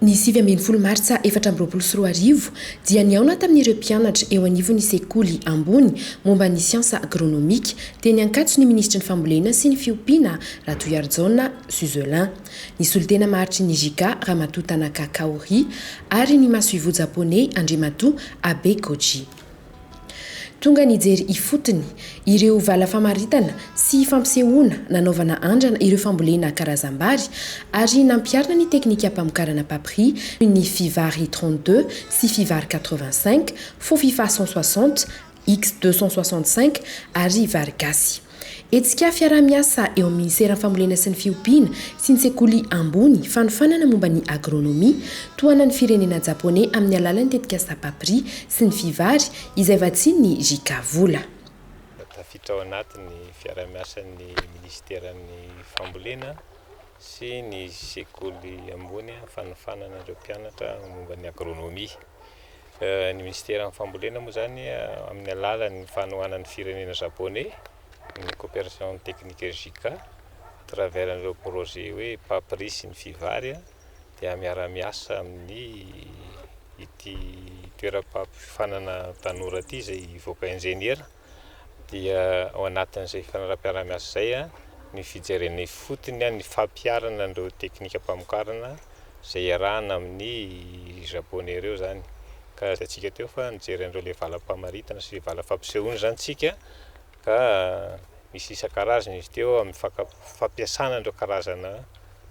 Ny sivy ambin'ny folo martsa efatra amby roapolo sy roa arivo dia nihaona tamin'ireo mpianatra eo anivon'ny sekoly ambony momba ny siansa agronomika teny Ankatso ny minisitry ny Fambolena sy ny fiompiana Ratohiharijaona Suzelin. ny solontena maharitry ny JICA, Ramatoa Tanaka Kaori, ary ny masoivoho Japoney, Andriamatoa Abe Koji. Tonga nijery ifotony ireo vala famaritana sy fampisehoana nanaovana andrana ireo fambolena karazam-bary ary nampiharina ny teknikam-pamokarana papri toy ny Fivary trente-deux sy Fivary quatre-vingt-cinq, Fofifa cent soixante, X 265, ary vary gasy. Hetsika fiaraha-miasa eo amin'ny Minisiteran'ny Fambolena sy ny Fiompiana sy ny Sekoly Ambony fanofanana momba ny Agronomie tohanan'ny firenena Japoney amin'ny alalan'ny tetikasa Papri sy ny Fivary izay vatsian'ny JICA vola. Tafiditra ao anatin'ny fiaraha-miasan'ny Minisiteran'ny Fambolena sy ny Sekoly Ambony fanofanana ireo mpianatra momba ny Agronomie. Ny Minisiteran'ny Fambolena moa izany amin'ny alalan'ny fanohanan'ny firenena Japoney, ny Coopération Technique JICA, à travers an'ireo projet hoe Papri sy ny Fivari dia miara-miasa amin'ny ity toeram-pampiofanana tanora ity izay hivoaka injeniera. dia ao anatin'izay fanaraha-piaraha-miasa izay ny fijerena ifotony ny fampiharana an'ireo teknikam-pamokarana izay iarahana amin'ny Japoney ireo izany. Ka hitantsika teo fa nijery an'ireo ilay valam-pamaritana sy valam-fampisehoana izany isika ka misy isan-karazany izy teo amin'ny fampiasana an'ireo karazana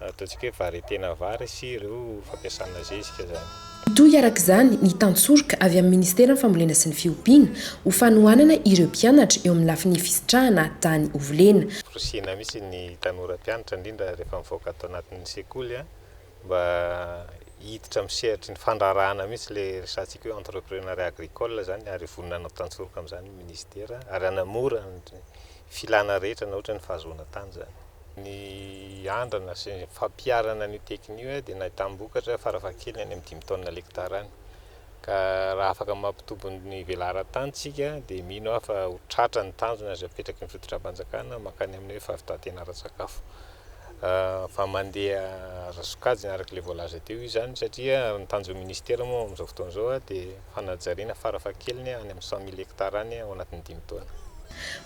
Ataontsika hoe variété-na vary sy ireo fampiasana zezika izany. Mitohy araka izany ny tantsoroka avy amin'ny Ministeran'ny Fambolena sy ny Fiompiana ho fanohanana ireo mpianatra eo amin'ny lafiny fisitrahana tany ho volena. Forisihina mihitsy ny tanora mpianatra indrindra rehefa mivoaka ato anatin'ny sekoly mba hiditra amin'ny sehatry ny fandraharahana mihitsy ilay resahantsika hoe entreprenariat agricole izany ary vonona hanao tantsoroka amin'izany ny Ministera ary hanamora ny filana rehetra na ohatra ny fahazoana tany izany. Ny andrana sy ny fampiharana an'io teknika io dia nahitam-bokatra farafahakeliny any amin'ny dimy taonina lektara any. Ka raha afaka mampitombo ny velaran-tany isika dia mino aho fa ho tratra ny tanjona izay apetraky ny fitondram-panjakana mankany amin'ny hoe fahavitan-tena ara-tsakafo. Fa mandeha ara-sokajiny araka ilay voalaza teo izany satria ny tanjon'ny Minisitera moa amin'izao fotoana izao dia. Fanajariana farafahakeliny any amin'ny cent mille hectares any ao anatin'ny dimy taona.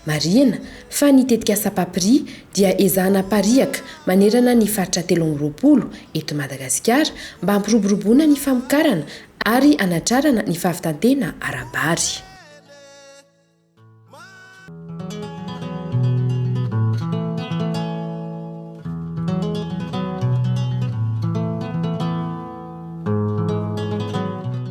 Marihina fa ny tetikasa PAPRI dia ezahana apariaka manerana ny faritra telo amby roapolo eto Madagasikara mba hampiroboroboana ny famokarana ary hanatrarana ny fahavitan-tena ara-bary.